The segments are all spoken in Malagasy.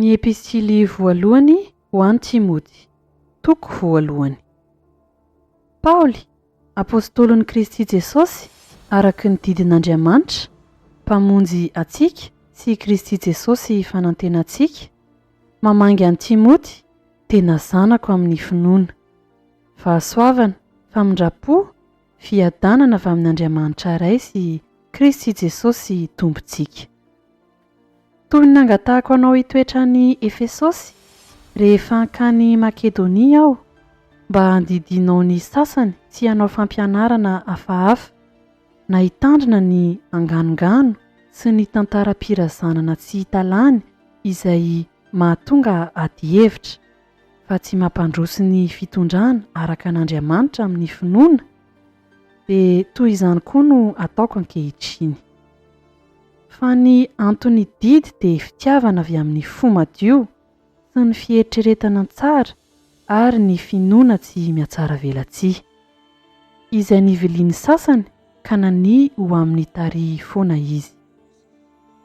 Ny epistily voalohany ho an'i Timoty. Toko voalohany. Paoly, Apôstôlin'i Kristy Jesôsy araka ny didin'Andriamanitra, Mpamonjy antsika, sy i Kristy Jesôsy fanantenantsika, mamangy an'i Timôty, tena zanako amin'ny finoana. Fahasoavana, famindram-po, fiadanana avy amin'Andriamanitra Ray sy Kristy Jesôsy Tompontsika. Toy ny nangatahako anao hitoetra any Efesosy rehefa hankany Makedonia aho, mba handidianao ny sasany sy hanao fampianarana hafahafa, na hitandrina ny anganongano sy ny tantaram-pirazanana tsy hita lany izay mahatonga adihevitra, fa tsy mampandroso ny fitondrana araka an'Andriamanitra amin'ny finoana, Dia toy izany koa no ataoko ankehitriny. Fa ny anton'ny didy dia fitiavana avy amin'ny fo madio sy ny fieritreretana tsara ary ny finoana tsy mihatsaravelatsihy. Izay nivilian'ny sasany ka nania ho amin'ny tarihiny foana izy.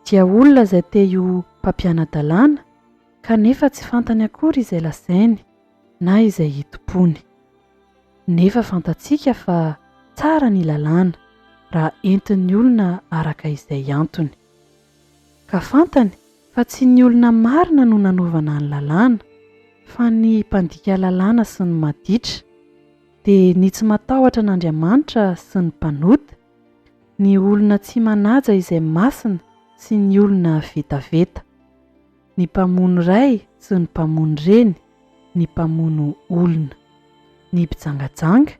Dia olona izay te ho mpampiana-dalàna kanefa tsy fantany akory izay lazainy. na izay hitompoany. Nefa fantatsika fa tsara ny lalàna raha entin'ny olona araka izay antony. Ka fantany fa tsy ny olona marina no nanaovana ny lalàna fa ny mpandika lalàna sy ny maditra, dia ny tsy matahotra an'Andriamanitra sy ny mpanota, ny olona tsy manaja izay masina sy ny olona vetaveta. ny mpamono ray sy ny mpamono reny, ny mpamono olona, ny mpijangajanga,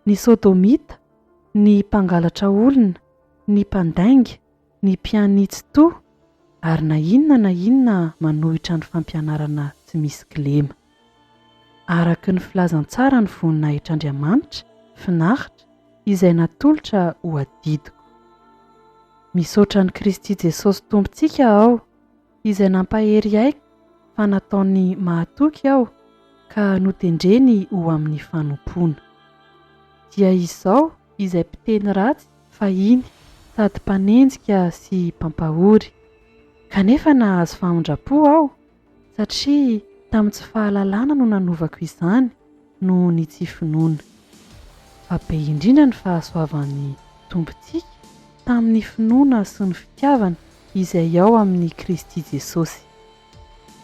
ny sodomita, ny mpangalatra olona, ny mpandainga, ny mpiani-tsitoha, ary na inona na inona manohitra ny fampianarana tsy misy kilema. Araka ny filazantsaran'ny voninahitr'Andriamanitra finaritra izay natolotra ho adidiko. Misaotra an'i Kristy Jesosy Tompontsika aho. izay nampahery ahy fa nataony mahatoky aho ka notendreny ho amin'ny fanompoana. Dia izao izay mpiteny ratsy fahiny sady mpanenjika sy mpampahory, kanefa nahazo famindram-po aho satria tamin'ny tsy fahalalana no nanovako izany, noho ny tsy finoana. Fa be indrindra ny fahasoavan'ny Tompontsika tamin'ny finoana sy ny fitiavana izay ao amin'i Kristy Jesosy.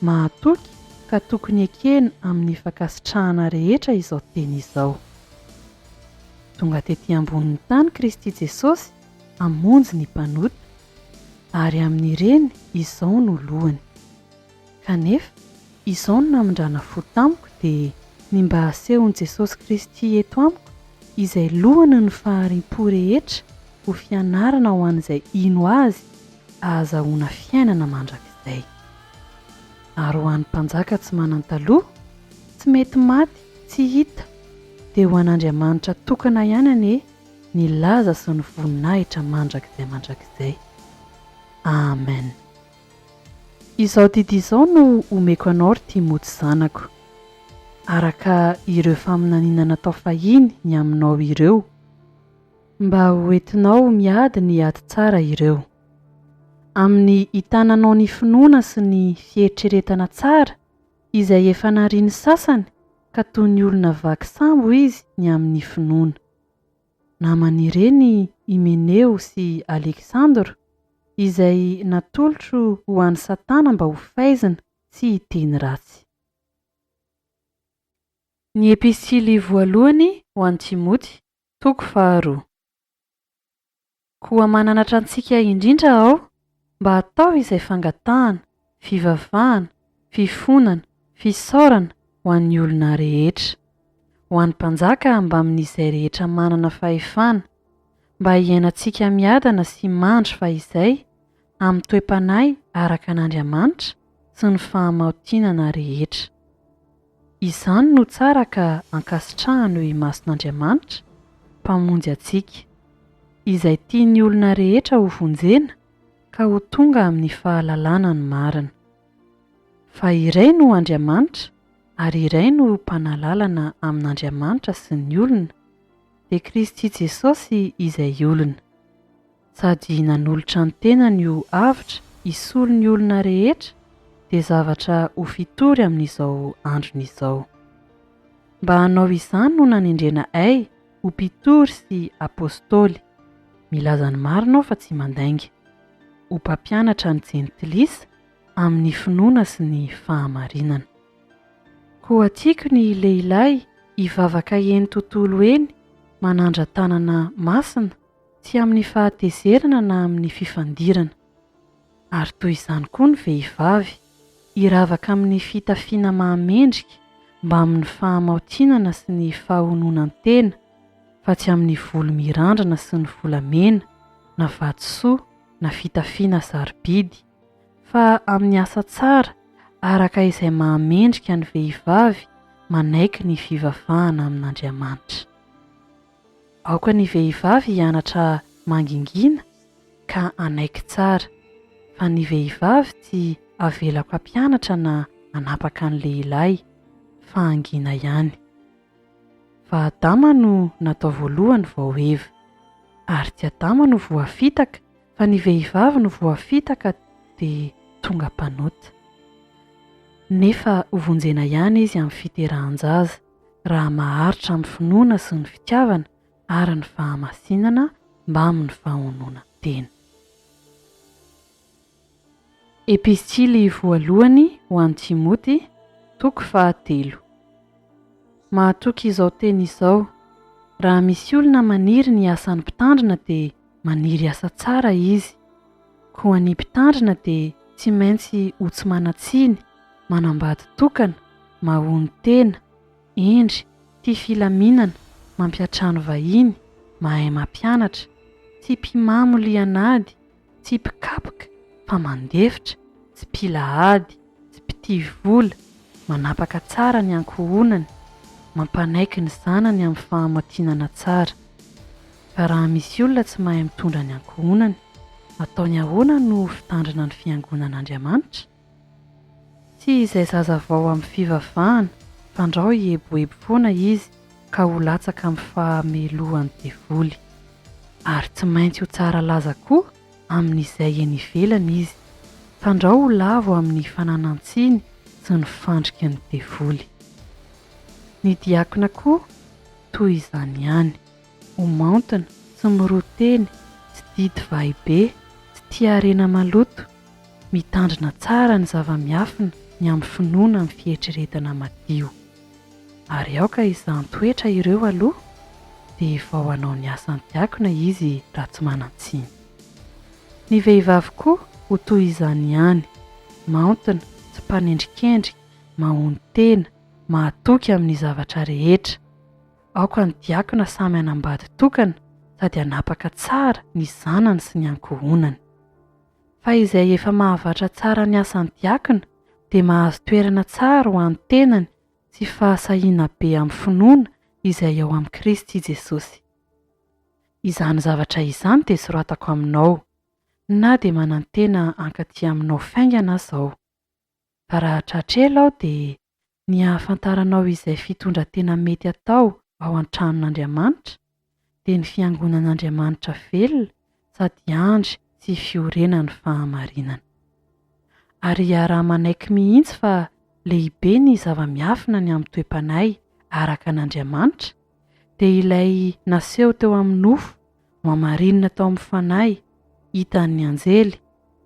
Mahatoky ka tokony ekena amin'ny fankasitrahana rehetra izao teny izao. Tonga tety ambonin'ny tany Kristy Jesosy hamonjy ny mpanota, ary amin'ireny izao no lohany. Kanefa, izao no namindrana fo tamiko dia ny mba hasehon'i Jesosy Kristy eto amiko, izay lohany ny fahariam-po rehetra ho fianarana ho an'izay hino Azy ahazahoana fiainana mandrakizay. Ary ho an'ny mpanjaka tsy manan-taloha, tsy mety maty, tsy hita, dia ho an'Andriamanitra tokana ihany anie ny laza sy ny voninahitra mandrakizay mandrakizay. Amen. Izao didy izao no omeko anao ry Timoty zanako, araka ireo faminaniana natao fahiny ny aminao ireo, mba ho entinao miady ny ady tsara ireo. Amin'ny itananao ny finoana sy ny fieritreretana tsara izay efa narian'ny sasany ka toy ny olona vaky sambo izy ny amin'ny finoana. naman'ireny Himeneo sy Aleksandra, izay natolotro ho an'i Satana mba ho faizina sy hiteny ratsy. Ny Epistily Voalohany ho an'i Timoty, toko faharoa. Koa mananatra antsika indrindra aho mba hatao izay fangatahana, fivavahana, fifonana, fisaorana ho an'ny olona rehetra. Ho an'ny mpanjaka mbamin'izay rehetra manana fahefana, mba hiainantsika miadana sy mandry fahizay amin'ny toe-panahy araka an'Andriamanitra sy ny fahamaotinana rehetra. Izany no tsara ka ankasitrahano i Mason'Andriamanitra, Mpamonjy antsika. Izay tian'ny olona rehetra ho vonjena ka ho tonga amin'ny fahalalana ny marina. Fa iray no Andriamanitra ary iray no Mpanalalana amin'Andriamanitra sy ny olona, dia Kristy Jesosy izay olona. Sady nanolotra ny tenany ho avotra hisolo ny olona rehetra dia zavatra ho fitory amin'izao androny izao. Mba hanao izany no nanendrena ay ho mpitory sy apostoly, milaza ny marina aho fa tsy mandainga, ho mpampianatra ny jentilisa amin'ny finoana sy ny fahamarinana. Koa tiako ny lehilahy hivavaka eny tontolo eny manandra tanana masina, tsy amin'ny fahatezerana na amin'ny fifandirana. Ary toy izany koa ny vehivavy, hiravaka amin'ny fitafiana mahamendrika mbamin'ny fahamaotinana sy ny fahononan-tena, fa tsy amin'ny volo mirandrana sy ny volamena, na vatosoa, na fitafiana sarobidy, fa amin'ny asa tsara araka izay mahamendrika ny vehivavy manaiky ny fivavahana amin'Andriamanitra. Aoka ny vehivavy hianatra mangingina ka hanaiky tsara, fa ny vehivavy tsy avelako hampianatra na hanapaka ny lehilahy, fa hangina ihany. Fa Adama no natao voalohany vao Eva. Ary tsy Adama no voafitaka, fa ny vehivavy no voafitaka dia tonga mpanota. Nefa hovonjena ihany izy amin'ny fiterahan-jaza. raha maharitra amin'ny finoana sy ny fitiavana ary ny fahamasinana mbamin'ny fahononan-tena. Epistily voalohany ho an'i Timoty, toko fahatelo. Mahatoky izao teny izao, Raha misy olona maniry ny asan'ny mpitandrina dia Maniry hiasa tsara izy. Koa ny mpitandrina dia tsy maintsy ho tsy manan-tsiny, manambady tokana, mahon'ny tena, hendry, tia filaminana, mampiantrano vahiny, mahay mampianatra, tsy mpimamo lian'ady, tsy mpikapoka, fa mandefitra, tsy mpila ady. Tsy mpitia vola, manapaka tsara ny ankohonany, mampanaiky ny zanany amin'ny fahamatinana tsara. Fa raha misy olona tsy mahay mitondra ny ankohonany, ataony ahoana no ho fitandrina ny fiangonan'Andriamanitra? Tsy izay zaza vao amin'ny fivavahana, fandrao hieboebo foana izy ka ho latsaka amin'ny fahamelohan'ny devoly. Ary tsy maintsy ho tsara laza koa! amin'izay eny ivelany izy. Fandrao ho lavo amin'ny fananan-tsiny sy ny fandriky ny devoly. Ny diakona koa toy izany ihany. Ho maontina, tsy miroa teny, tsy didy vahy be, tsy tia harena maloto, mitandrina tsara ny zava-miafina ny amin'ny finoana amin'ny fieritreretana madio. Ary aoka hizahan-toetra ireo aloha dia hivao hanao ny asan'ny diakona izy raha tsy manan-tsiny. Ny vehivavy koa ho toy izany ihany, maontina, tsy mpanendrikendrika, mahonon-tena, mahatoky amin'ny zavatra rehetra. Aoka ny diakona samy hanambady tokana sady hanapaka tsara ny zanany sy ny ankohonany. Fa izay efa mahavatra tsara ny asan'ny diakona dia mahazo toerana tsara ho an'ny tenany sy fahasahiana be amin'ny finoana izay ao amin'i Kristy Jesosy. Izany zavatra izany dia soratako aminao, na dia manantena hankaty aminao faingana aza aho. Fa raha tratra ela aho dia Ny hahafantaranao izay fitondran-tena mety atao ao an-tranon'Andriamanitra, dia ny fiangonan'Andriamanitra velona sady andry sy fiorenan'ny fahamarinana. Ary iaraha-manaiky mihitsy fa lehibe ny zava-miafina ny amin'ny toe-panahy araka an'Andriamanitra, dia ilay naseho teo amin'ny nofo Nohamarinina tao amin'ny fanahy hitan'ny anjely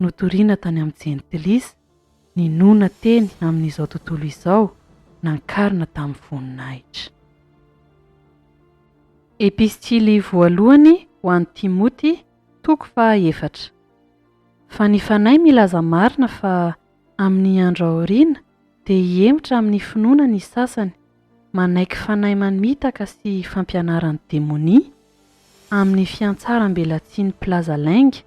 notorina tany amin'ny Jentilisa ny noana teny amin'izao tontolo izao nankarina tamin'ny voninahitra. Epistily voalohany ho an'i Timoty, toko faha efatra. Fa ny fanahy milaza marina fa Amin'ny andro aoriana, dia hihemotra amin'ny finoana ny sasany, manaiky fanahy manimitaka sy fampianaran'ny demonia, amin'ny fiantsaram-belatsihin'ny mpilaza lainga,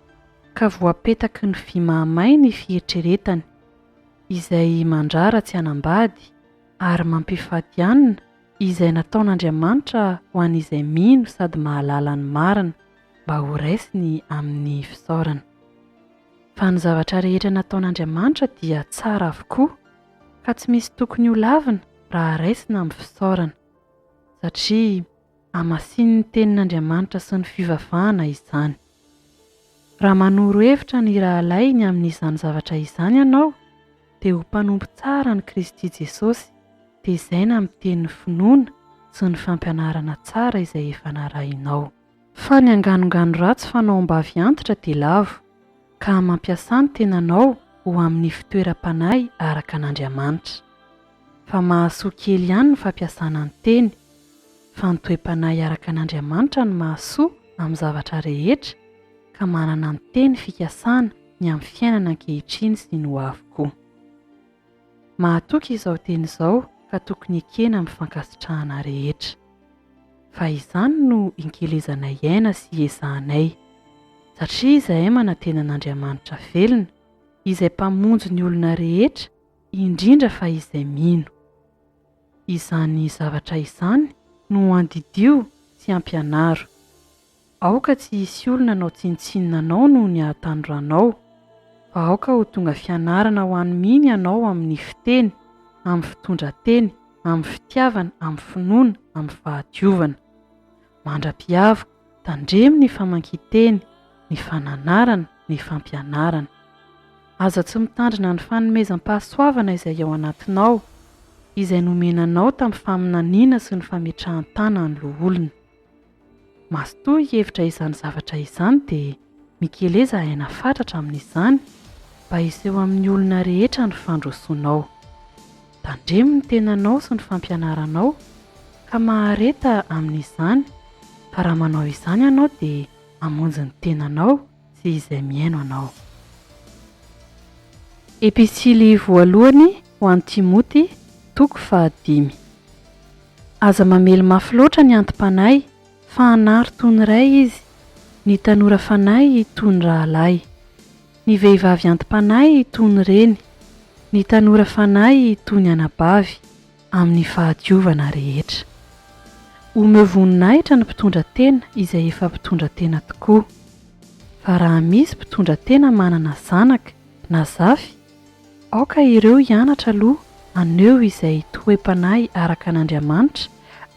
ka voapetaky ny vy mahamay ny fieritreretany, izay mandrara tsy hanambady, ary mampifadianina izay nataon'Andriamanitra ho an'izay mino sady mahalala ny marina, mba horaisiny amin'ny fisaorana. fa ny zavatra rehetra nataon'Andriamanitra dia tsara avokoa ka tsy misy tokony ho lavina raha raisina amin'ny fisaorana, satria hamasinin'ny Tenin'Andriamanitra sy ny fivavahana izany. Raha manoro hevitra ny rahalahy ny amin'izany zavatra izany ianao, dia ho mpanompo tsara an'i Kristy Jesosy, tezaina miteny ny finoana sy ny fampianarana tsara izay efa narahinao. Fa ny anganongano ratsy fanao am-bavy antitra dia lavo, ka mampiasà ny tenanao ho amin'ny fitoeram-panahy araka an'Andriamanitra. Fa mahasoa kely ihany ny fampiasana ny teny. Fa ny toe-panahy araka an'Andriamanitra no mahasoa amin'ny zavatra rehetra, ka manana ny teny fikasana ny amin'ny fiainana ankehitriny sy ny hoavy koa. Mahatoky izao teny izao ka tokony ekena amin'ny fankasitrahana rehetra. Fa izany no inkelezanay hiaina sy hiezahanay. Satria izahay manantena an'Andriamanitra velona, izay Mpamonjy ny olona rehetra, indrindra fa izay mino. Izany zavatra izany no andidio sy ampianaro. Aoka tsy hisy olona hanao tsinontsinona anao noho ny hahatanoranao, fa aoka ho tonga fianarana ho an'i Mimi ianao amin'ny fiteny, amin'ny fitondran-teny, amin'ny fitiavana, amin'ny finoana, amin'ny fahadiovana. Mandra-piaviko, tandremo ny famakian-teny, ny fananarana, ny fampianarana. Aza tsy mitandrina ny fanomezam-pahasoavana izay ao anatinao, izay nomena anao tamin'ny faminaniana sy ny fametrahan-tana ny loholona. Mazotoa hihevitra izany zavatra izany dia mikeleza aina fatratra amin'izany mba hiseho amin'ny olona rehetra ny fandrosoanao. Tandremo ny tenanao sy ny fampianaranao ka mahareta amin'izany fa raha manao izany ianao dia hamonjy ny tenanao, sy izay mihaino anao. Episily voalohany ho an'i Timoty, toko fahadimy. Aza mamely mafy loatra ny anti-panahy, fa anaro toy ny ray izy, ny tanora fanahy toy ny rahalahy, ny vehivavy anti-panahy toy ny reny, ny tanora fanahy toy ny anabavy, amin'ny fahadiovana rehetra. Omeo voninahitra ny mpitondra tena izay efa mpitondra tena tokoa. Fa raha misy mpitondra tena manana zanaka na zafy, aoka ireo hianatra aloha haneho izay toe-panahy araka an'Andriamanitra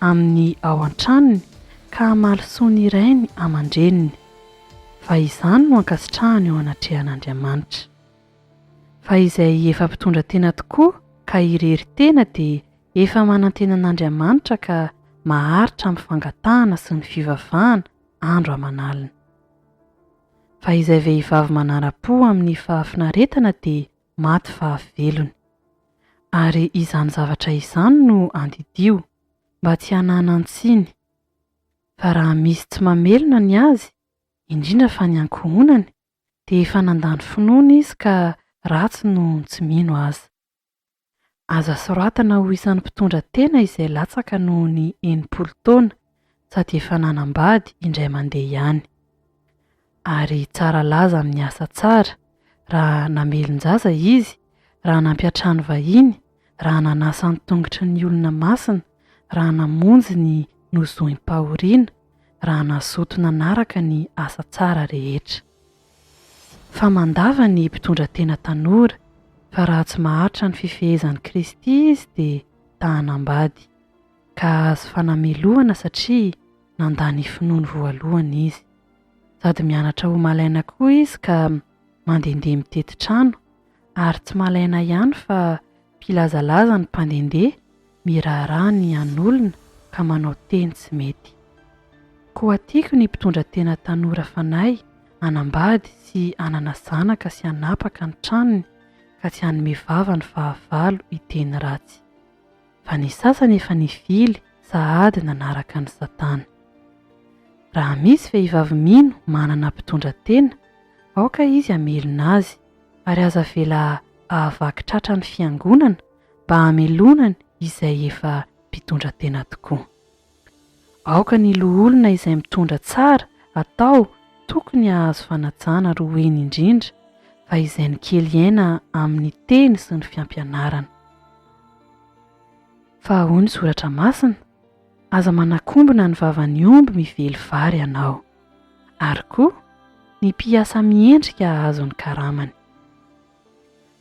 amin'ny ao an-tranony ka hamaly soa ny rainy aman-dreniny. Fa izany no ankasitrahany eo anatrehan'Andriamanitra. Fa izay efa mpitondra tena tokoa ka irery tena dia efa manantena an'Andriamanitra ka maharitra amin'ny fangatahana sy ny fivavahana andro aman'alina. Fa izay vehivavy manara-po amin'ny fahafinaretana dia maty fahavelony. Ary izany zavatra izany no andidio, mba tsy hananan-tsiny. Fa raha misy tsy mamelona ny azy, indrindra fa ny ankohonany, dia efa nandany finoana izy ka ratsy no tsy mino aza. Aza soratana ho isan'ny mpitondra tena izay latsaka noho ny enimpolo taona sady efa nanambady indray mandeha ihany. Ary tsara laza amin'ny asa tsara raha namelon-jaza izy, raha nampiantrano vahiny, raha nanasa ny tongotry ny olona masina, raha namonjy ny nozoim-pahoriana, raha nazoto nanaraka ny asa tsara rehetra. Fa mandava ny mpitondra tena tanora, fa raha tsy maharitra ny fifehezan'i Kristy izy dia tahan'ambady, ka hahazo fanamelohana satria nandà ny finoany voalohany izy. Sady mianatra ho malaina koa izy ka mandehandeha mitety trano, ary tsy malaina ihany fa mpilazalaza ny mpandehandeha miraharaha ny an'olona ka manao teny tsy mety. Koa tiako ny mpitondra tena tanora fanahy hanambady sy hanana zanaka sy hanapaka ny tranony ka tsy hanome vava ny fahavalo hiteny ratsy. Fa ny sasany efa nifily sahady nanaraka an'i satana. Raha misy vehivavy mino manana mpitondra tena aoka izy hamelona azy ary aza avela hahavaky tratra ny Fiangonana mba hamelona ny izay efa mpitondra tena tokoa. Aoka ny loholona izay mitondra tsara atao tokony hahazo fanajana roheny indrindra fa izay nikely aina amin'ny teny sy ny fiampianarana. Fa ahoa ny Soratra Masina? Aza manakombona ny vavan'ny omby mively vary ianao. Ary koa, ny mpiasa miendrika hahazo ny karamany.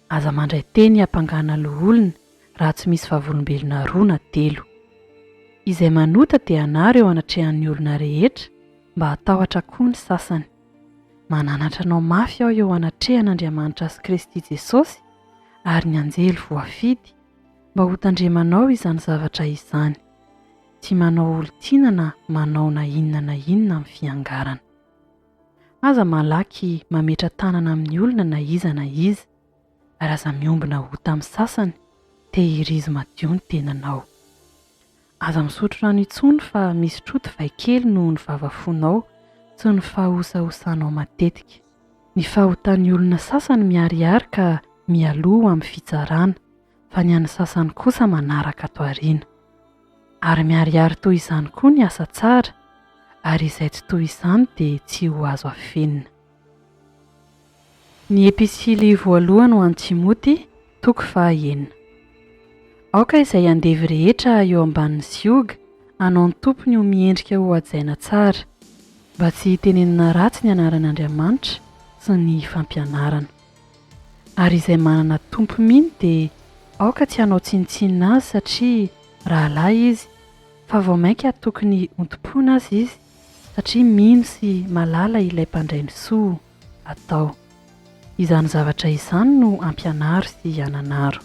Aza mandray teny hampangana loholona raha tsy misy vavolombelona roa na telo. Izay manota dia anaro eo anatrehan'ny olona rehetra mba hatahotra koa ny sasany. Mananatra anao mafy aho eo anatrehan'Andriamanitra sy Kristy Jesosy ary ny anjely voafidy. Mba ho tandremanao izany zavatra izany. Tsy manao olon-tiana na manao na inona na inona amin'ny fiangarana. Aza malaky mametra-tanana amin'ny olona na iza na iza, ary aza miombona ota amin'ny sasany, tehirizo madio ny tenanao. Aza misotro rano intsony fa misy troty vay kely noho ny vava fonao sy ny fahahosahosanao matetika. Ny fahotan'ny olona sasany miharihary ka mialoha ho amin'ny fitsarana, fa ny an'ny sasany kosa manaraka ato aoriana. Ary miharihary toy izany koa ny asa tsara, ary izay tsy toy izany dia tsy ho azo afenina. Ny Episily Voalohany ho an'i Timoty, toko faha enina. Aoka izay andevo rehetra eo ambanin'ny sioga hanao ny tompony ho miendrika ho hajaina tsara, mba tsy hitenenina ratsy ny anaran'Andriamanitra sy ny fampianarana. Ary izay manana tompo mino dia aoka tsy hanao tsinontsinona azy satria rahalahy izy, fa vao mainka tokony hontompoina aza izy satria mino sy malala ilay mpandray ny soa atao. Izany zavatra izany no ampianaro sy hananaro.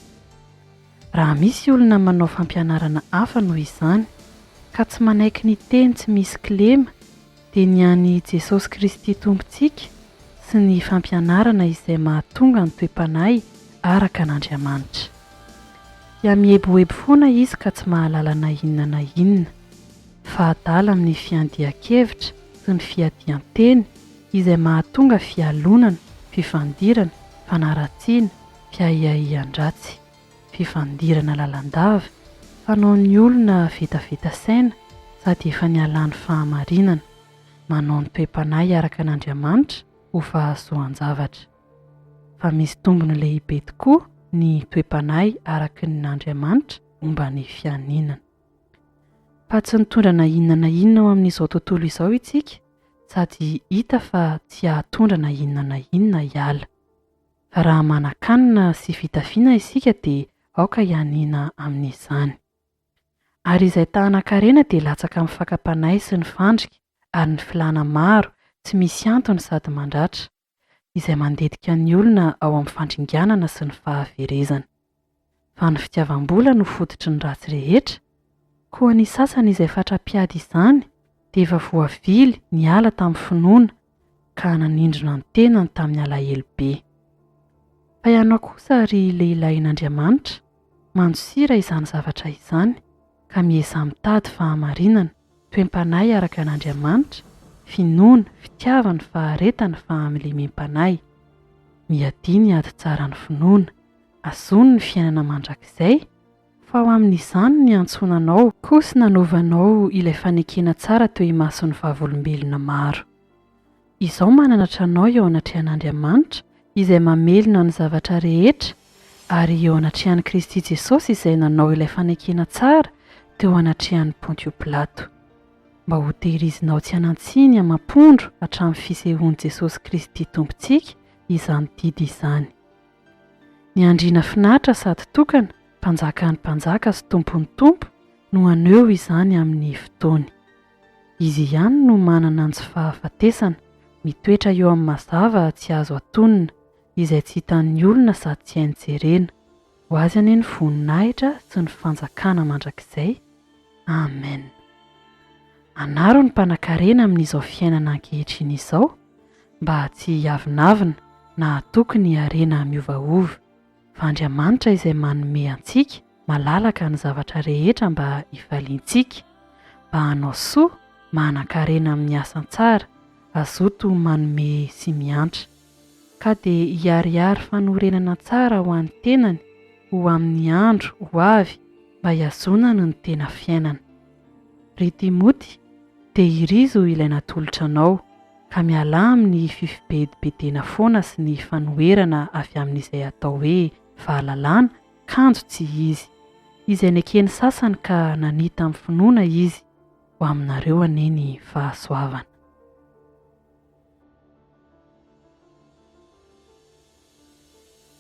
Raha misy olona manao fampianarana hafa noho izany, ka tsy manaiky ny teny tsy misy kilema, dia ny an'i Jesosy Kristy Tompontsika sy ny fampianarana izay mahatonga ny toe-panahy araka an'Andriamanitra. Dia mihebohebo foana izy ka tsy mahalala na inona na inona. fa adala amin'ny fiandian-kevitra sy ny fiadian-teny izay mahatonga fialonana, fifandirana, fanaratsiana, fiahiahian-dratsy. Fifandirana lalandava, fanaon'ny olona vetaveta saina sady efa nialan'ny fahamarinana. Manao ny toe-panahy araka an'Andriamanitra ho fahasoan-javatra. Fa misy tombony lehibe tokoa ny toe-panahy araka ny Andriamanitra momba ny fianinan. Fa tsy nitondra na inona na inona ho amin'izao tontolo izao isika sady hita fa tsy hahatondra na inona na inona hiala. Fa raha manan-kanina sy fitafiana isika dia aoka hianiana amin'izany. Ary izay tahanan-karena dia latsaka amin'ny fakam-panahy sy ny fandrika ary ny filàna maro tsy misy antony sady mandratra. izay mandetika ny olona ao amin'ny fandringanana sy ny fahaverezana. Fa ny fitiavam-bola no fototry ny ratsy rehetra? Koa ny sasany izay fatra-piady izany dia efa voavily niala tamin'ny finoana ka nanindrona ny tenany tamin'ny alahelo be. Fa ianao kosa, ry lehilahin'Andriamanitra, mandosira izany zavatra izany ka miezaha mitady fahamarinana, Toe-panahy araka an' Andriamanitra, finoana, fitiavana, faharetana, fahamiliamim-panahy. Miadia ny ady tsara ny finoana, azony ny fiainana mandrakizay, fa ao amin' izany no niantsoana anao, koa sy nanovanao ilay fanekena tsara teo imason'ny vavolombelona maro. Izaho mananatra anao eo anatrehan'Andriamanitra izay mamelona ny zavatra rehetra ary eo anatrehan'i Kristy Jesosy izay nanao ilay fanekena tsara teo anatrehan'i Pontio Pilato, mba hotehirizinao tsy hanan-tsiny amam-pondro hatramin'ny fisehoan'i Jesosy Kristy Tompontsika izany didy izany. Ny Andriana finaritra sady tokana, Mpanjakan'ny mpanjaka sy Tompon'ny tompo, no haneho izany amin'ny fotoany. Izy ihany no manana ny tsy fahafatesana, mitoetra eo amin'ny mazava tsy azo atonina, izay tsy hitan'ny olona sady tsy hainy jerena. Ho Azy anie ny voninahitra sy ny fanjakana mandrakizay. Amen. Anaro ny mpanan-karena amin'izao fiainana ankehitriny izao mba tsy hiavonavona na hatoky ny harena miovaova. fa Andriamanitra izay manome antsika malalaka ny zavatra rehetra mba hifaliantsika, mba hanao soa, manan-karena amin'ny asa tsara, hazoto manome sy miantra. Ka dia hiharihary fanorenana tsara ho an'ny tenany ho amin'ny andro ho avy mba hihazonany ny tena fiainana. Ry Timoty, tehirizo ilay natolotra anao, ka mialà amin'ny fifibedibedena foana sy ny fanoherana avy amin'izay atao hoe fahalalana, kanjo tsy izy. Izay neken'ny sasany ka nanita amin'ny finoana izy, ho aminareo anie ny fahasoavana.